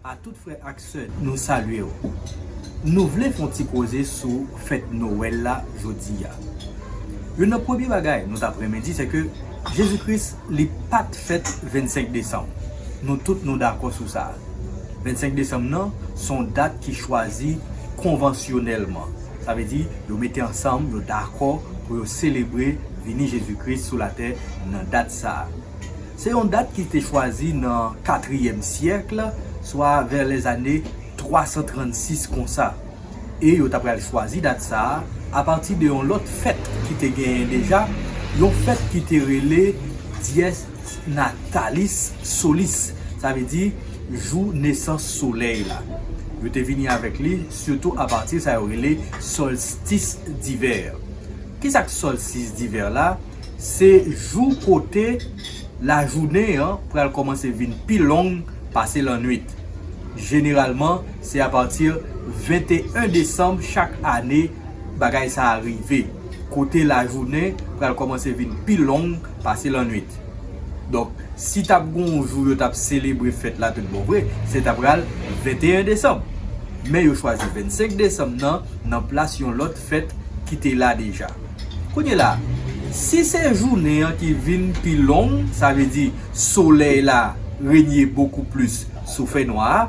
A tout frè ak sè nou salye w Nou vle fon ti koze sou fèt Noël la jodia Youn nan premye bagay nou tap renmen di sèke Jezi Kris li pat fèt 25 desanm Nou tout nou dakò sou sa 25 desanm nan son dat ki chwazi konvansyonèlman Sa vle di yo mete ansanm yo dakò pou yo selebre vini Jezi Kris sou latè nan dat sa. Se yon dat ki te chwazi nan katriyèm syèkle, swa vè lèzane 336 konsa, e yo ta pral chwazi dat sa a apati de yon lòt fèt ki te genyen deja, yon fèt ki te rele Dies Natalis Solis, sa vle di jou nesans solèy la. Yo te vini avèk li sitou apati sa yo rele solstis divè. Ki sa k solstis divè la? Se jou kote lajounen an pral kòmanse vin pi long pase lannwit. Jeneralman, se apati 21 desanm chak ane bagay sa a rive, kote lajounen pral kòmanse vin pi long pase lannwit. Donk, si t ap gen yon jou yo t ap selebre fèt la toutbonvre, se t apral 21 desanm. Men yo chwazi 25 desanm nan, nan plas yon lòt fèt ki te la deja. Kounye la, si se jounen an ki vin pi long, sa vle di solèy la renye bokou plis sou fènwa a,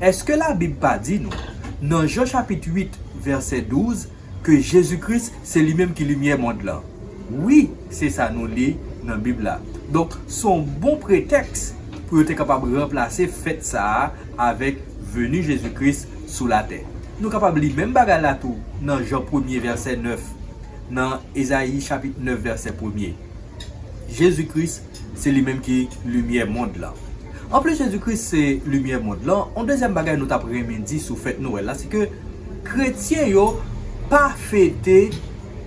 èske Labib pa di nou, nan Jan chapit 8, vèsè 12, ke Jezi Kris se li menm ki limyè mond lan? Wi, se sa nou li nan Bib la. Donk, s on bon pretèks pou yo te kapab ranplase fèt sa a avèk veni Jezi Kris sou latè. Nou kapab li menm bagay la tou nan Jan premye vèsè 9, nan Ezayi chapit 9 vèsè premye. Jezi Kris se li menm ki limyè mond lan. Anplis Jezi Kris se limyè mond lan, yon dezyèm bagay nou t ap renmen di sou fèt Nwèl la se ke kretyen yo pa fete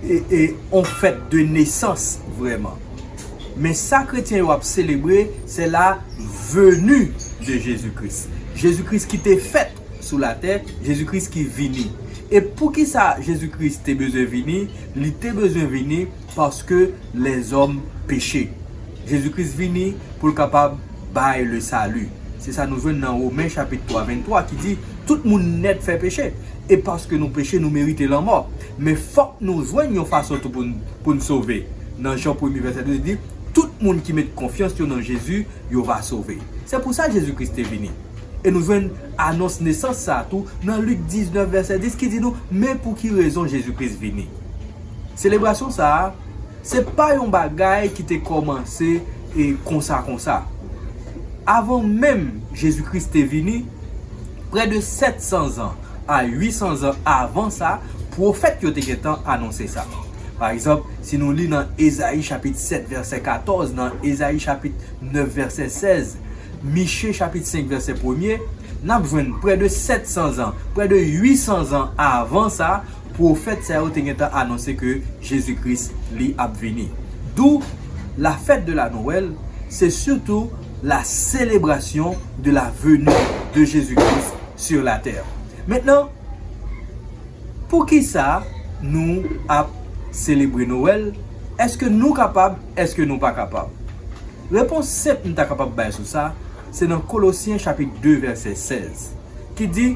yon fèt de nesans vrèman. Men sa kretyen yo ap selebre se la veni de Jezi Kris. Jezi Kris ki te fèt. sou latè, Jezi Kris ki vini. E poukisa Jezi Kris te bezwen vini? Li te bezwen vini paske lèzòm peche. Jezi Kris vini pou l kapab bay le sali. Se sa nou jwenn nan Women chapit 3, 23 ki di, Tout moun nèt fè peche, e paske nou peche nou merite lanmò. Men fòk nou jwenn yon fason tou pou n sove. Nan Jan premye vèsè 12 li di, Tout moun ki met konfyans yo nan Jezi, yo va sove. Se pou sa Jezi Kris te vini. E nou jwenn anons nesans sa a tou nan Lik 19 vèsè 10 ki di nou men pou ki rezon Jezi Kris vini. Selebrasyon sa a, se pa yon bagay ki te kòmanse e konsa konsa. Avan menm Jezi Kris te vini, prè de 700 zan a 800 zan avan sa, pwofèt yo te gentan anonse sa. Pa egzanp, si nou li nan Ezayi chapit 7 vèsè 14, nan Ezayi chapit 9 vèsè 16, Miche chapit 5 vèsè premye, n ap jwenn prè de 700 zan, prè de 800 zan avan sa, pwofèt sa yo te gentan anonse ke Jezi Kris li ap vini. Dou, la fête de la Noël se sitou la selebrasyon de la veni de Jezi Kris sur la tè. Mentnan, poukisa nou ap selebre Noël? Eske nou kapab? Eske nou pa kapab? Repons senp nou ta kapab bay sou sa, se nan Kolosyen chapit 2 vèsè 16, ki di,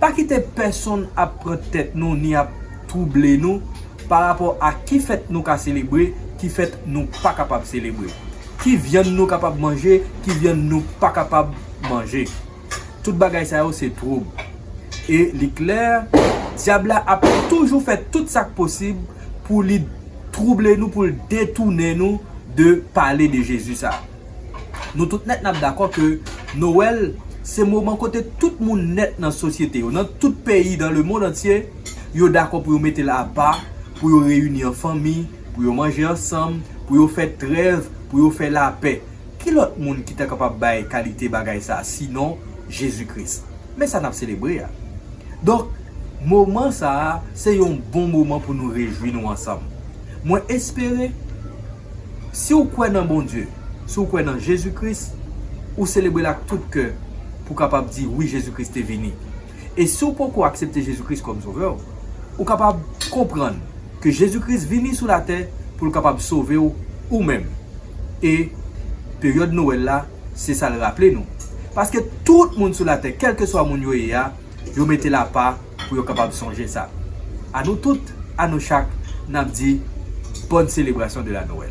Pa kite pèsonn ap pran tèt nou ni ap twouble nou parapò a ki fèt nou ka selebre, ki fèt nou pa kapab selebre, ki vyann nou kapab manje, ki vyann nou pa kapab manje. Tout bagay sa yo se twoub. E li klè, Dyab la ap toujou fè tout sa k posib pou li twouble nou, pou l detounen nou de pale de Jezi sa a. Nou tout nèt n ap dakò ke Nowèl se moman kote tout moun nèt nan sosyete yo, nan tout peyi dan lemond antye, yo dakò pou yo mete l apa, pou yo reyini an fanmi, pou yo manje ansanm, pou yo fè trèv, pou yo fè lapè. Ki lòt moun ki ta kapab bay kalite bagay sa a sinon Jezi Kris? Men sa n ap selebre a. Donk, moman sa a se yon bon moman pou nou rejwi nou ansanm. Mwen espere, si w kwè nan Bondye, si w kwè nan Jezi Kris, ou selebre l ak tout kè pou w kapab di, Wi, Jezi Kris te vini. E si w poko aksepte Jezi Kris kòm Sovè w, ou kapab konprann ke Jezi Kris vini sou latè pou l kapab sove w ou menm. E peryòd Nowèl la se sa l raple nou. Paske tout moun sou latè, kèlkeswa moun yo ye a, yo mete l apa pou yo kapab sonje sa. A nou tout, a nou chak, n ap di, Bonne célébration de la Noël!